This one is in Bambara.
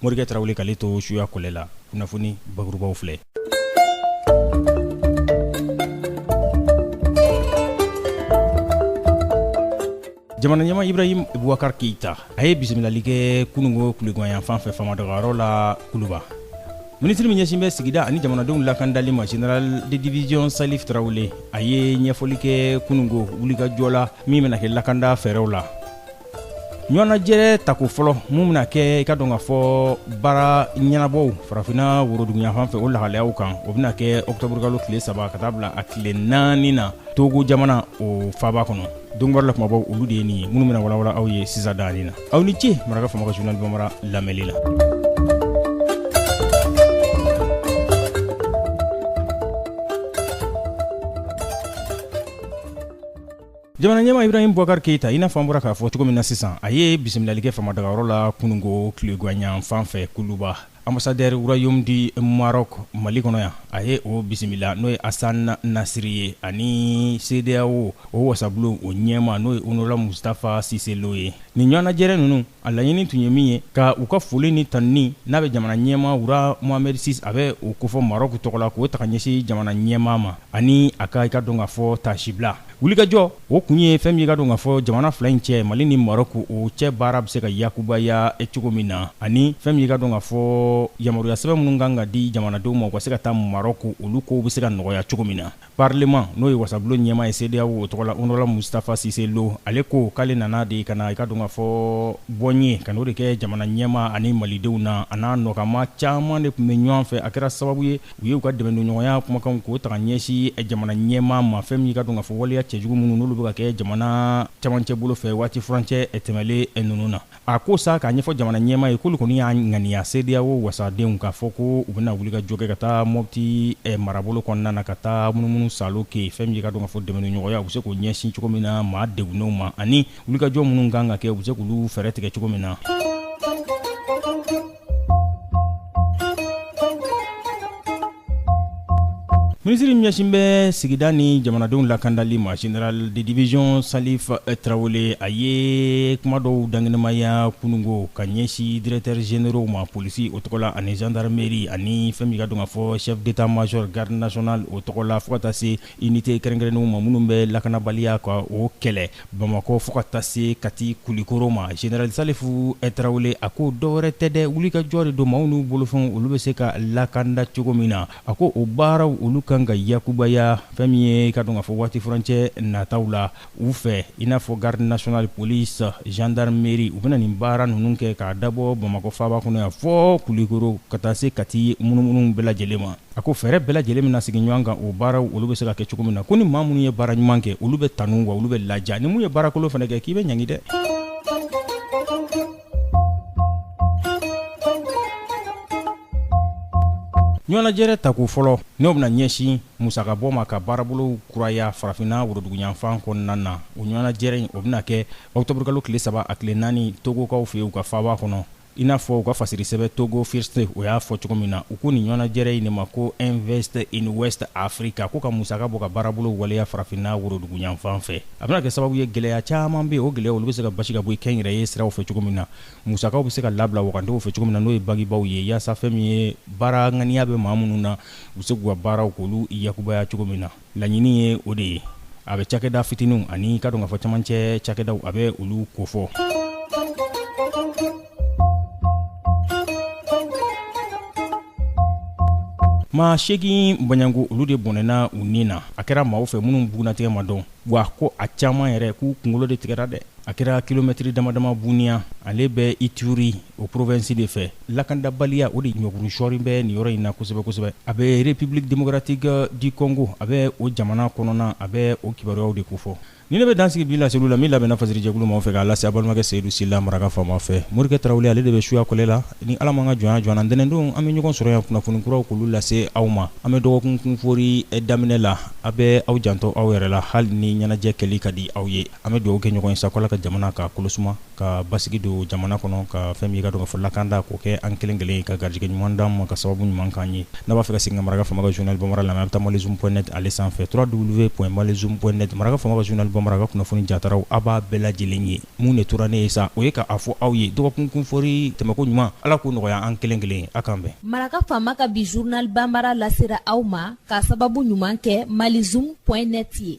morikɛ tarawele k'ale to suya kɔlɛ la kunnafoni bakurubaw filɛ jamana ɲɛma ibrahim bubakar keita a ye bisimilali kɛ kunungo tileganyan fan fɛ famadagayɔrɔ la kuluba minisiri min ɲɛsin bɛ sigida ani jamanadenw lakandali ma general de division salif tarawele a ye ɲɛfɔli kɛ kunungo wulikajɔ la min bɛna kɛ lakanda fɛɛrɛw la ɲɔgɔnnajɛrɛ tako fɔlɔ min bɛna kɛ i ka dɔn ka fɔ baara ɲɛnabɔw farafinna woroduguyafan fɛ o lahalayaw kan o bɛna kɛ ɔkutɔburukalo tile saba ka taa bila a tile naani na togo jamana o faaba kɔnɔ don kibaru la kumabaw olu de ye nin ye minnu bɛna walawala aw ye sisan daani na aw ni ce maraka faama ka journal bambara lamɛnli la jamana ɲɛma ibrahim bubakar keyita i n'a fɔ an bɔra k'a fɔ cogo min na sisan a ye bisimilali kɛ famadagayɔrɔ la kunungo tileganyan fan fɛ kuluba ambasadɛri royaume du maroc mali kɔnɔ yan a ye o bisimila n'o ye asan nasiri ye ani sedeyawo o wasabulon o ɲɛma n'o ye honorable mustapha sise lo ye nin ɲɔgɔnnajɛrɛ ninnu A laɲini tun ye min ye ka u ka foli ni tanunni n'a bɛ jamana ɲɛmaa Roi Mohamed Six a bɛ o kofɔ Marɔku tɔgɔ la k'o ta ka ɲɛsin jamana ɲɛmaa ma ani a ka i ka dɔn ka fɔ taasibila wulikajɔ, o kun ye fɛn min ye i ka dɔn ka fɔ jamana fila in cɛ Mali ni Marɔku o cɛ baara bɛ se ka yakubaya cogo min na ani fɛn min ye i ka dɔn ka fɔ yamaruyasɛbɛn minnu ka kan ka di jamanadenw ma u ka se ka taa Marɔku olu kow bɛ se ka nɔgɔya cogo min na. Parlement n'o ye wasabulon ɲɛmaa ye CEDEAO o tɔgɔ la Honorable Mustapha Cisse Lo, ale ko k'ale nana de ka na i ka dɔn k'a fɔ bɔnye, ka n'o de kɛ jamana ɲɛmaa ani Malidenw na, a n'a nɔkanmaa caman de tun bɛ ɲɔgɔn fɛ, a kɛra sababu ye u ye u ka dɛmɛndonɲɔgɔnya kumakanw k'o ta ka ɲɛsin jamana ɲɛmaa ma, fɛn min ka dɔn k'a fɔ waleya cɛjugu minnu n'olu bɛ ka kɛ jamana camancɛbolo fɛ waati furancɛ tɛmɛlen ninnu na. A ko sa k'a ɲɛfɔ jamana ɲɛmaa ye k'olu kɔni y'a ŋaniya CEDEAO wasadenw k'a fɔ ko u bɛna wulikajɔ kɛ ka taa Mopti eh, marabolo kɔnɔna na ka taa munumunu saalo kɛ fɛn min ye ka dɔn ka fɔ dɛmɛdonɲɔgɔnya u bɛ se k'o ɲɛsin cogo min na maa degunnenw ma ani wulikajɔ minnu kan ka kɛ u bɛ se k'olu fɛɛrɛ tigɛ cogo min na. Minisiri ɲɛsin bɛ sigida ni jamanadenw lakandali ma general de division salif tarawele a ye kuma dɔw dankɛnɛmaya kununko ka ɲɛsin directeurs généraux ma polisi o tɔgɔ la ani gendarmerie ani fɛn min ka dɔn ka fɔ chef d'état major garde nationale o tɔgɔ la fo ka taa se unité kɛrɛnkɛrɛnnenw ma minnu bɛ lakanabaliya ka o kɛlɛ bamakɔ fo ka taa se kati kulikoro ma general salifu tarawele a ko dɔwɛrɛ tɛ dɛ wulikajɔ de don maaw n'u bolofɛnw olu bɛ se ka lakanda cogo min na a ko o baaraw olu kan ka yakubaya fɛn min ye ka dɔn k'a fɔ waati furancɛ nataw la u fɛ i n'a fɔ garde nationale police gendarmerie u bɛna nin baara ninnu kɛ k'a dabɔ bamakɔ faaba kɔnɔ yan fɔ kulikoro ka taa se kati munumunu bɛɛ lajɛlen ma a ko fɛɛrɛ bɛɛ lajɛlen bɛna sigi ɲɔgɔn kan o baaraw olu bɛ se ka kɛ cogo min na ko ni maa minnu ye baara ɲuman kɛ olu bɛ tanu wa olu bɛ ladiya ni min ye baarakolon fana kɛ k'i bɛ ɲangi dɛ ɲɔgɔnnajɛrɛ tako fɔlɔ n'o bɛna ɲɛsin musakabɔ ma ka baarabolo kuraya farafinna woroduguyanfan kɔnɔna na o ɲɔgɔnnajɛrɛ in o bɛna kɛ ɔkutɔburukalo tile saba a tile naani togokaw fɛ yen u ka faaba kɔnɔ i n'a fɔ u ka fasirisɛbɛ togo first o y'a fɔ cogo min na u ko nin ɲɔgɔnnajɛrɛ in de ma ko invest in west africa ko ka musaka bɔ ka baarabolo waleya farafinna woroduguyanfan fɛ a bɛna kɛ sababu ye gɛlɛya caman bɛ o gɛlɛya olu bɛ se ka basi ka bɔ kɛnyɛrɛye siraw fɛ cogo min na musakaw bɛ se ka labila wagandew fɛ cogo min na n'o ye bankibaw ye yaasa fɛn min ye baara ŋaniya bɛ maa minnu na u bɛ se k'u ka baaraw k'olu yakubaya cogo min na laɲini ye o de ye a bɛ cakɛda fitininw ani ka dɔn k'a fɔ camancɛ cakɛdaw a bɛ olu kofɔ maa seegin bɔɲanko olu de bɔnɛna u ni na a kɛra maaw fɛ minnu bugunnatigɛ ma dɔn wa ko a caman yɛrɛ k'u kunkolo de tigɛra dɛ a kɛra kilomɛtiri damadama buniya ale bɛ ituri o porovensi de fɛ lakandabaliya o de ɲɔguru sɔɔrin bɛ nin yɔrɔ in na kosɛbɛ kosɛbɛ a bɛ republique democratique du congo a bɛ o jamana kɔnɔna a bɛ o kibaruyaw de kofɔ Ni ne bɛ dansigi bi laseliw la min labɛnna fasiri jɛkulu maaw fɛ k'a lase a balimakɛ seyidu sila maraka faama fɛ morikɛ tarawele ale de bɛ suya kɔlɛ la ni ala m'an ka jɔnya jɔ an na ntɛnɛndon an bɛ ɲɔgɔn sɔrɔ yan kunnafoni kuraw k'olu lase aw ma an bɛ dɔgɔkun kunfori daminɛ la a bɛ aw janto aw yɛrɛ la hali ni ɲɛnajɛ kɛli ka di aw ye an bɛ dugawu kɛ ɲɔgɔn ye sako ala ka jamana ka kolo suma ka basigi don jamana kɔnɔ ka fɛn min ye ka dɔn k'a fɔ lakanda k'o kɛ an kelen kelen ye ka garijɛgɛ ɲuman d'an ma ka sababu ɲuman k'an ye n'a b'a fɛ ka segin ka maraka faama ka journal bambara lamɛn a bɛ taa malizoom point net ale sanfɛ trois w point malizoom point net maraka faama ka journal bambara ka kunnafoni jataraw a b'a bɛɛ lajɛlen ye mun de tora ne ye sa o ye k'a fɔ aw ye dɔgɔkun kunfori tɛmɛko ɲuman ala k'o nɔgɔya an kelen kelen ye a k'an bɛn maraka faama ka bi journal bambara lasera aw ma ka sababu ɲuman kɛ malizoom point net ye